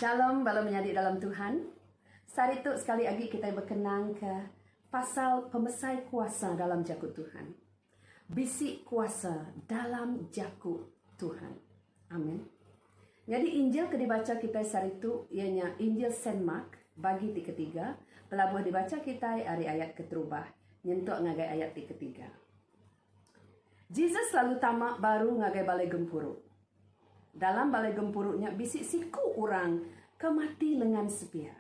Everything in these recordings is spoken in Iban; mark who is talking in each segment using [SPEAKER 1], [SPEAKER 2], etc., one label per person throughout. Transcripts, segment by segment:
[SPEAKER 1] Shalom bala menyadi dalam Tuhan. Sehari tu sekali agi kitai bekenangka pasal pemesai kuasa dalam jaku Tuhan. Bisi kuasa dalam jaku Tuhan. Amen. Nyadi Injil ke dibacha kitai sehari tu iya nya Injil Saint Mark, bagi ti ketiga, pelabuh dibacha kitai ari ayat keterubah nyentuk ngagai ayat ti ketiga. Jesus lalu tama baru ngagai balai gempuru. Dalam balai gempuru nya bisi siku orang ke mati lengan sepia.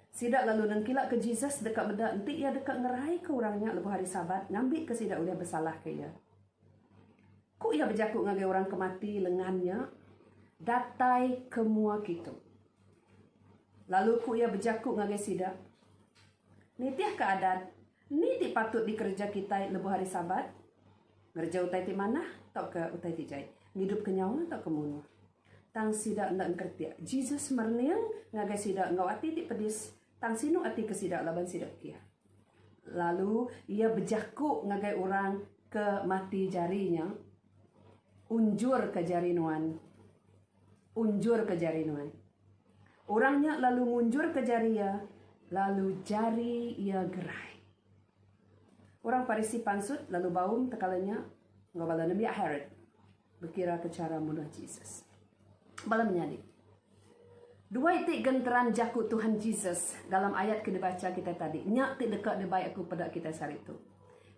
[SPEAKER 1] Sida lalu nengkilaka Jesus deka meda enti iya deka ngeraika orang nya lebuh hari Sabat ngambika sida ulih besalahka iya. Ku iya bejaku ngagai orang ke mati lengan nya datai ke mua kitu. Lalu ku iya bejaku ngagai sida, Nitih ke adat, ni ti patut dikereja kitai lebuh hari Sabat? Ngereja utai ti manah tauka utai ti jai? Ngidupka nyawa tauka munuh? Tang sida enda engkeretik. Jesus merening ngagai sida enggau ati ti pedis, tang sinu ati ke sida laban sida kiah. Lalu iya bejaku ngagai orang ke mati jari nya, Unjurka jari nuan. Unjurka jari nuan. Orang nya lalu ngunjurka jari iya, lalu jari iya gerai. Orang Parisi pansut lalu baum tekala nya enggau bala nembiak Herod. Bekiraka chara munuh Jesus. Bala menyadi. Dua iti genteran jaku Tuhan Jesus dalam ayat ke dibacha kitai tadi. Nya ti deka dibai aku peda kitai sehari tu.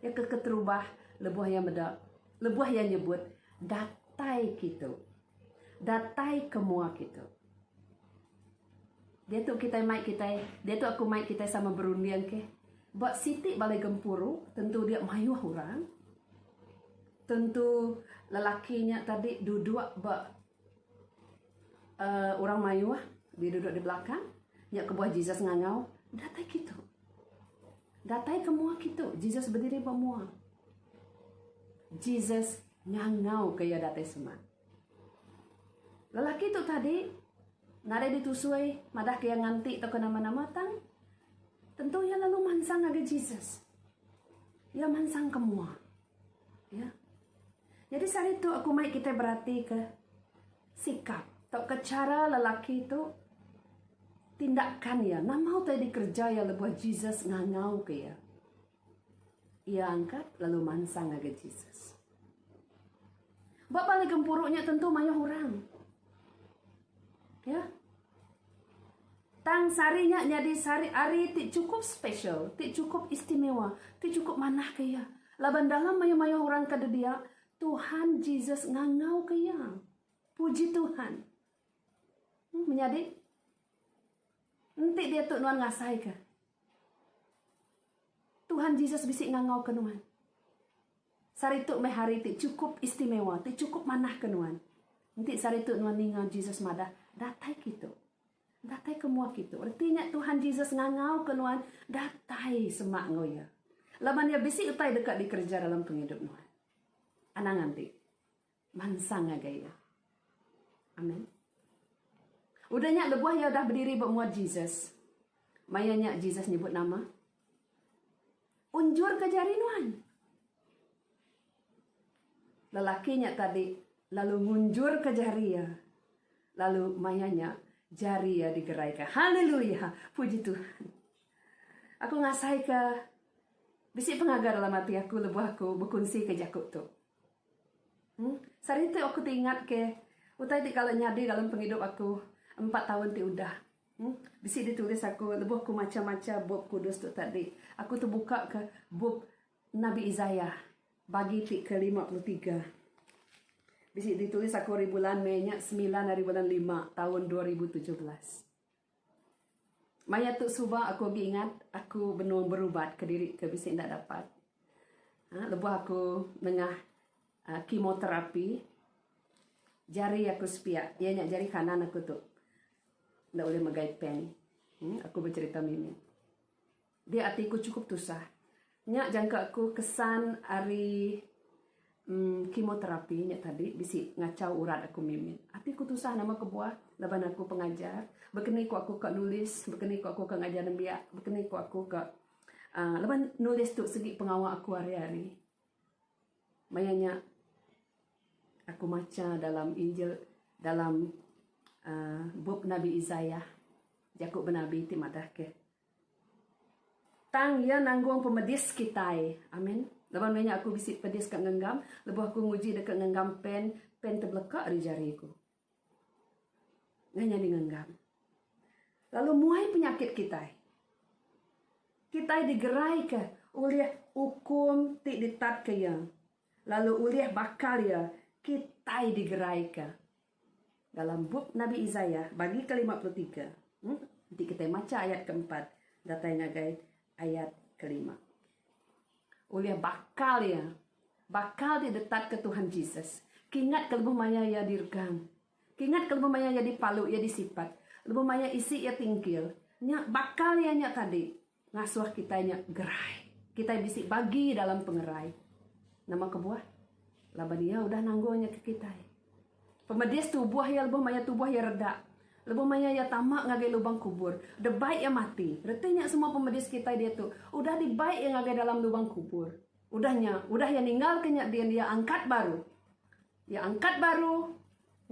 [SPEAKER 1] Iya ke keterubah lebuh iya meda, lebuh iya nyebut datai kitu. Datai ke mua kitu. Diatu kitai mai kitai, diatu aku mai kitai sama berunding ke. Ba siti bala gempuru tentu dia mayuh orang. Tentu lelaki nya tadi duduk ba uhh orang mayuh dia duduk di belakang nya kebuah Jesus ngangau datai kitu. Datai ke mua kitu Jesus bediri ba mua. Jesus ngangau ke iya datai semak. Lelaki tu tadi nadai ditusui madah ke iya nganti tauka nama-nama tang tentu iya lalu mansang ngagai Jesus. Iya mansang ke mua. Ya. Jadi sehari tu aku mai kita berati ke sikap atau ke cara lelaki tu tindakan ya. Nama utai dikerja ya lebuh Jesus ngangau ke ya. Ia angkat lalu mansang ngagai Jesus. Ba balik gempuru nya tentu mayuh orang. Ya. Tang sehari nya nyadi sehari ari ti chukup spesial, ti chukup istimewa, ti chukup manahka iya laban dalam mayuh-mayuh orang ke didia, Tuhan Jesus ngangauka iya. Puji Tuhan. Hmm, menyadi enti diatu nuan ngasaika Tuhan Jesus bisi ngangauka nuan. Sehari tu meh hari ti chukup istimewa, ti chukup manah ke nuan. Enti sehari tu nuan ninga Jesus madah, Datai ke itu. Datai ke mua ke itu. Reti nya Tuhan Jesus ngangau ke nuan datai semak enggau Iya. Laban Iya bisi utai deka dikereja dalam pengidup nuan. Anang anti. Mansang ngagai iya. Amen. Udah nya lebuh iya udah bediri ba mua Jesus. Maya nya Jesus nyebut nama. Unjur ke jari nuan. Lelaki nya tadi lalu ngunjur ke jari iya. Lalu maya nya jari iya digerai ke. Haleluya. Puji Tuhan. Aku ngasai ke bisi pengaga dalam hati aku lebuh aku bekunsi ke jaku tu. Sehari tu aku ti ingat ke utai ti kala nyadi dalam pengidup aku empat taun ti udah. Bisi ditulis aku lebuh ku macha macha bup kudus tu tadi. Aku tebuka ke bup nabi Isaiah bagi ti ke lima puluh tiga. Bisi ditulis aku ari bulan mei nya semilan ari bulan lima taun dua ribu tujuh belas. Maya tu suba aku agi ingat aku benung berubat kediri ke bisi enda dapat uhh lebuh aku nengah uhh chemotherapy jari aku sepia iya nya jari kanan aku tu enda ulih megai pen uhh aku becerita mih nih. Dia ati ku cukup tusah. Nya jangka ku kesan ari emm kimoterapi nya tadi bisi ngachau urat aku mimit. Ati ku tusah nama kebuah laban aku pengajar, bekeni ku aku ka nulis, bekeni ku aku ka ngajar nembiak, bekeni ku aku ka aaa laban nulis tu segi pengawa aku hari-hari. Maya nya aku macha dalam injil dalam aaa bup nabi Isaiah jaku benabi ti madahka. Tang Iya nanggung pemedis kitai. Amin. Laban meh nya aku bisi pedis ka ngenggam, lebuh aku nguji deka ngenggam pen, pen tebeleka ari jari ku. Ngah nyadi ngenggam. Lalu muai penyakit kitai. Kitai digeraika ulih ukum ti ditatka Iya, lalu ulih bakal Iya, kitai digeraika. Dalam bup Nabi Isaiah bagi kelima puluh tiga, enti kitai macha ayat keempat datai ngagai ayat kelima. Ulih bakal iya. Bakal ti ditatka Tuhan Jesus. Kingat ke lebuh maya iya diregang. Kingat ke lebuh maya iya dipalu, iya disipat. Lebuh maya isi iya tingkil. Nya bakal iya nya tadi. Ngasuh kitai nya gerai. Kitai bisi bagi dalam pengerai. Nama kebuah? Laban Iya udah nanggung nya ke kitai. Pemedis tubuh Iya lebuh maya tubuh Iya redak. Lebuh maya Iya tama ngagai lubang kubur. Debai Iya mati. Reti nya semua pemedis kitai diatu udah dibai Iya ngagai dalam lubang kubur. Udah nya, udah Iya ninggalka nya din Iya angkat baru. Iya angkat baru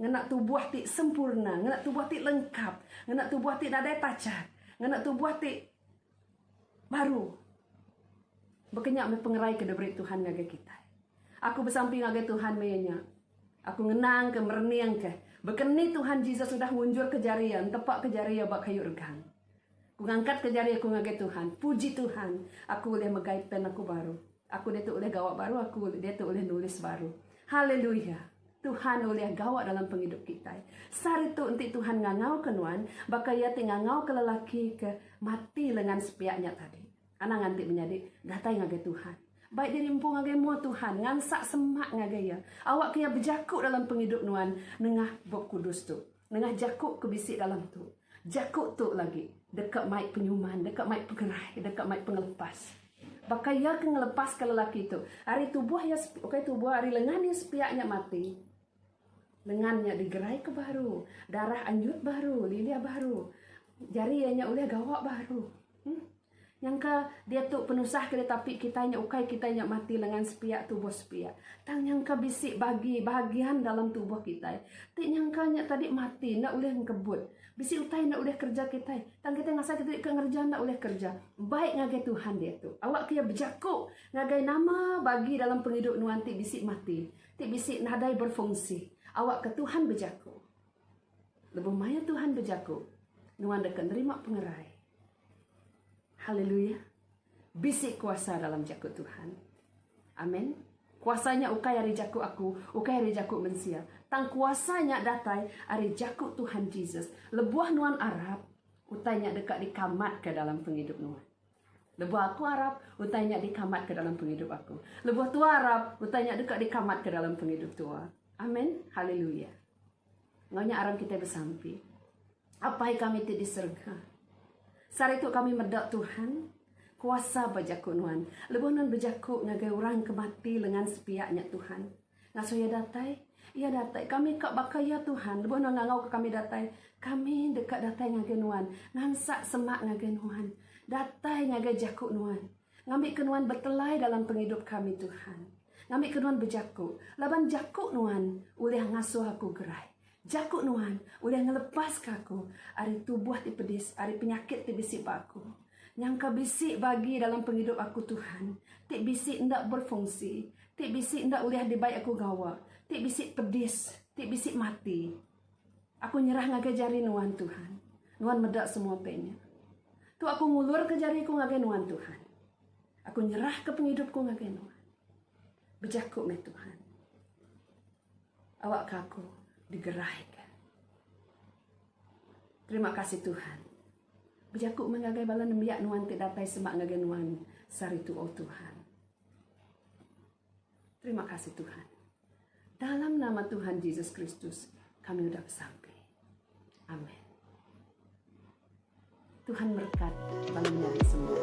[SPEAKER 1] ngena tubuh ti sempurna, ngena tubuh ti lengkap, ngena tubuh ti nadai pachat, ngena tubuh ti baru. Baka nya meh pengerai ke diberi Tuhan ngagai kitai. Aku besampi ngagai Tuhan maya nya. Aku ngenangka, mereningka, baka ni Tuhan Jesus udah ngunjurka jari iya, ntepaka jari iya ba kayu regang. Ku ngangkat ke jari aku ngagai Tuhan. Puji Tuhan, aku ulih megai pen aku baru. Aku diatu ulih gawa baru, aku diatu ulih nulis baru. Haleluya! Tuhan ulih gawa dalam pengidup kitai. Sehari tu enti Tuhan ngangauka nuan, baka Iya ti ngangauka lelaki ke mati lengan sepiak nya tadi. Anang anti menyadi, datai ngagai Tuhan. Bai diri empu ngagai mua Tuhan, ngansak semak ngagai Iya. Awakka Iya bejaku dalam pengidup nuan nengah Bup Kudus tu. Nengah jaku ke bisi dalam tu. Jaku tu lagi deka mai penyuman, deka mai pengerai, deka mai pengelepas. Baka iya ke ngelepaska lelaki tu ari tubuh iya ukai tubuh ari lengan iya sepiak nya mati. Lengan nya digeraika baru, darah anjut baru, lilih baru. Jari iya nya ulih gawa baru. Em. Nyangka diatu penusah ke ditapi kitai nya ukai kitai nya mati lengan sepiak tubuh sepiak. Tang nyangka bisi bagi bahagian dalam tubuh kitai ti nyangka nya tadi mati enda ulih engkebut. Bisi utai enda ulih kerja kitai. Tang kitai ngasai kitai ke ngereja enda ulih kerja. Baik ngagai Tuhan diatu. Awakka iya bejaku ngagai nama bagi dalam pengidup nuan ti bisi mati, ti bisi nadai berfungsi. Awakka Tuhan bejaku. Lebuh maya Tuhan bejaku, nuan deka nerima pengerai. Hallelujah. Bisi kuasa dalam jaku Tuhan. Amen. Kuasa nya ukai ari jaku aku, ukai ari jaku mensia. Tang kuasa nya datai ari jaku Tuhan Jesus. Lebuh nuan arap, utai nya deka dikamatka dalam pengidup nuan. Lebuh aku arap, utai nya dikamatka dalam pengidup aku. Lebuh tua arap, utai nya deka dikamatka dalam pengidup tua. Amen. Hallelujah. Ngau nya aram kita besampi. Apai kami ti di serega. Sehari tu kami meda Tuhan kuasa bejaku nuan. Lebuh nuan bejaku ngagai orang ke mati lengan sepiak nya Tuhan. Ngasuh iya datai, iya datai. Kami ka baka iya Tuhan. Lebuh nuan ngangau ke kami datai, kami deka datai ngagai nuan. Ngansak semak ngagai nuan. Datai ngagai jaku nuan. Ngambi ke nuan betelai dalam pengidup kami Tuhan. Ngambi ke nuan bejaku. Laban jaku nuan ulih ngasuh aku gerai. Jaku Nuan udah ngelepaska aku ari tubuh ti pedis, ari penyakit ti bisi ba aku. Nyangka bisi bagi dalam pengidup aku, Tuhan, ti bisi enda berfungsi, ti bisi enda ulih dibai aku gawa, ti bisi pedis, ti bisi mati. Aku nyerah ngagai jari Nuan, Tuhan. Nuan meda semua pe nya. Tu aku ngulurka jari ku ngagai Nuan, Tuhan. Aku nyerahka pengidup ku ngagai Nuan. Bejaku meh, Tuhan. awakka aku digeraika. Terima kasih Tuhan. Bejaku meh ngagai bala nembiak nuan ti datai semak ngagai nuan saritu oh Tuhan. Terima kasih Tuhan. Dalam nama Tuhan Jesus Kristus kami udah besampi. Amin. Tuhan berkat bala menyanyi semua.